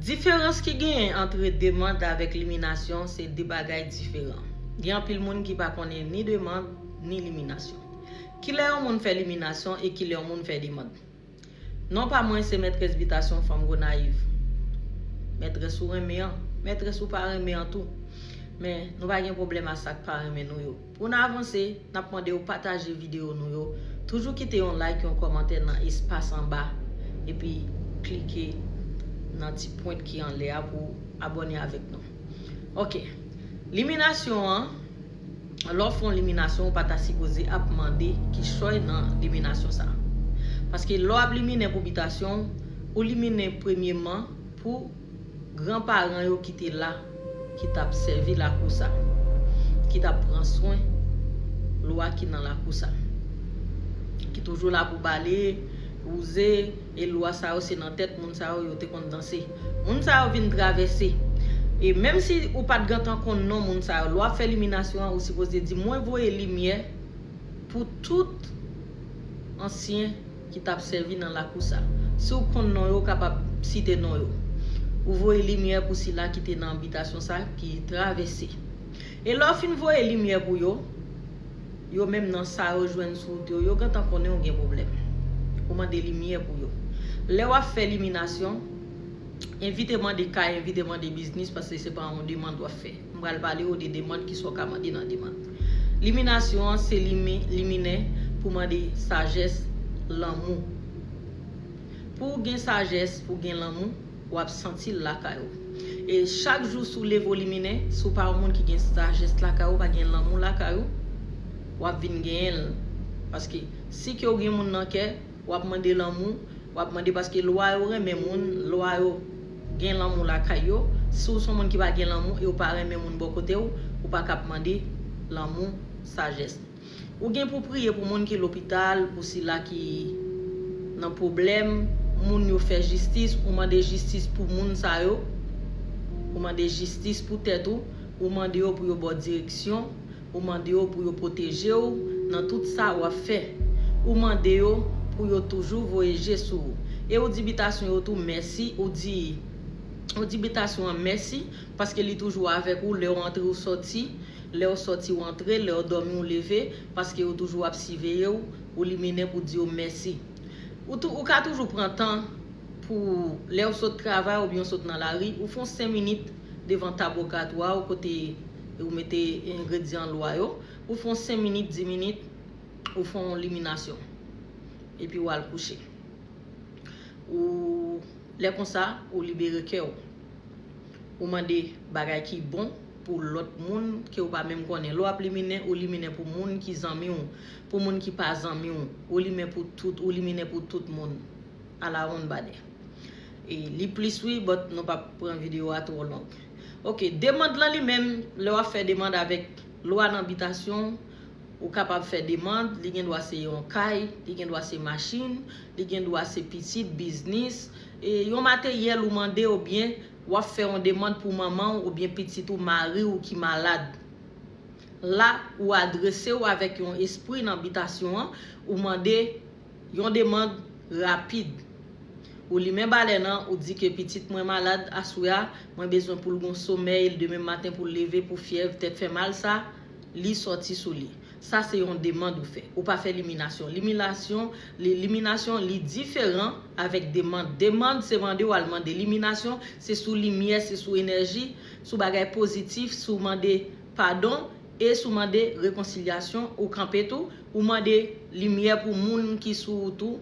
Diferans ki genyen antre demand avèk liminasyon se de bagay diferan. Gen anpil moun ki pa konnen ni demand, ni liminasyon. Kilè yon moun fè liminasyon e kilè yon moun fè demand? Non pa mwen se Mètrès Bitasyon Fanm Gonayiv. Mètrès ou renmen an, mètrès ou pa renmen an tou. Men, nou pa gen pwoblèm a sa k pa renmen nou yo. Pou n avanse, n ap mande w pataje videyo nou yo, toujou kite yon like, yon kòmantè nan espas anba, epi klike nan ti pwent ki anlè a pou w abòne avèk nou. Ok. Liminasyon an, Lè w fè yon liminasyon, ou pa ta sipoze ap mande kichòy nan liminasyon sa. Paske lè w ap liminen pou bitasyon w, ou liminen premyeman pou. Gran paran yo ki te la, ki t ap sèvi lakou sa, ki t ap pran swen lwa ki nan lakou sa, ki toujou la pou pale, wouze, e lwa sa yo se nan tèt moun sa yo yo te konn danse. Moun sa yo vin travèse. E menm si ou pa t gentan konn non moun sa yo, lè w ap fè liminasyon an ou sipoze di mwen voye limyè pou tout ansyen. ki tap sèvi nan lakou sa. Si w konn non yo, ou kapab site non yo. Ou voye limyè pou sila ki te nan bitasyon sa ki travèse. E lè w fin voye limyè pou yo, yo menm nan sa yo jwenn sou wout yo, yo gentan konnen ou gen pwoblèm. Ou mande limyè pou yo. Lè w ap fè liminasyon, evite mande kay, evite mande biznis paske se pa yon demand w ap fè. M pral pale ou de demand, kisa w ka mande nan demand. Liminasyon an se limen, liminen, pou mande sajès, lanmou. Pou w gen sajès, pou w gen lanmou, w ap santi l lakay ou. E chak jou si w leve w liminen, si w pa yon moun ki gen sajès lakay ou, pa gen lanmou lakay ou, w ap vin genyen l. Paske si ke w gen moun nan kè, Wap mande lanmou, wap mande paske lwa yo renmen moun, lwa yo Gen lanmou lakay yo, si w son moun ki pa gen lanmou e w pa renmen moun bò kote w, ou pa ka ap mande lanmou, sajès. Ou gen pou priye pou moun ki lopital, pou sila ki Nan pwoblèm, moun yo fè jistis, ou mande jistis pou moun sa yo, ou mande jistis pou tèt ou, ou mande yo pou yo ba w direksyon, Ou mande yo pou yo pwoteje ou nan tout sa ou ap fè. Ou mande yo pou yo toujou voye je sou ou. E ou di bitasyon yo tou mèsi, ou di, ou di bitasyon an mèsi paske li toujou avèk ou lè ou antre ou sòti, lè ou sòti ou antre, lè ou dòmi ou leve, paske yo toujou ap siveye ou, ou liminen pou di yo mèsi. Ou tou, ou ka toujou pran tan pou, lè ou sot travay oubyen ou sot nan lari, ou fon 5 minit devan tab ogat ou a ou kote, e ou mete engredyan lwa yo, ou fon 5 minit 10 minit ou fon liminasyon epi ou al kouche ou lè konsa ou libere kè ou ou mande bagay ki bon pou lòt moun ke ou pa menm konnen lè wap liminen ou liminen pou moun ki zanmi ou pou moun ki pa zanmi ou ou limen pou tout ou liminen pou tout moun alawonnbadè e li plis wi but nou pap pran video a twò long. Ok, demand lan li menm, lè wap fè demand avèk lwa nan bitasyon, ou kapab fè demand, li gen dwa se yon kay, li gen dwa se machin, li gen dwa se pitit, biznis, e yon materyèl ou mande ou byen wap fè yon demand pou manman ou ou byen pitit ou, mari ou ki malad. La, ou adrese ou avèk yon espri nan bitasyon an, ou mande. Yon demand rapid. Ou limen balèn an, ou di ke pitit mwen malad aswè a, mwen bezwen pou l gon somèy l demen maten pou l leve pou fyèv tèt fè mal sa li sòti sou li. Sa se yon demand ou fè. Ou pa fè liminasyon. Liminasyon, li, liminasyon li diferan avèk demand. Demand se mande ou al mande. Liminasyon se sou limyè, se sou enèji, sou bagay pozitif, sou mande padon. E si w mande rekonsilyasyon, ou kanpe tou, ou mande limyè pou moun ki sou ou tou.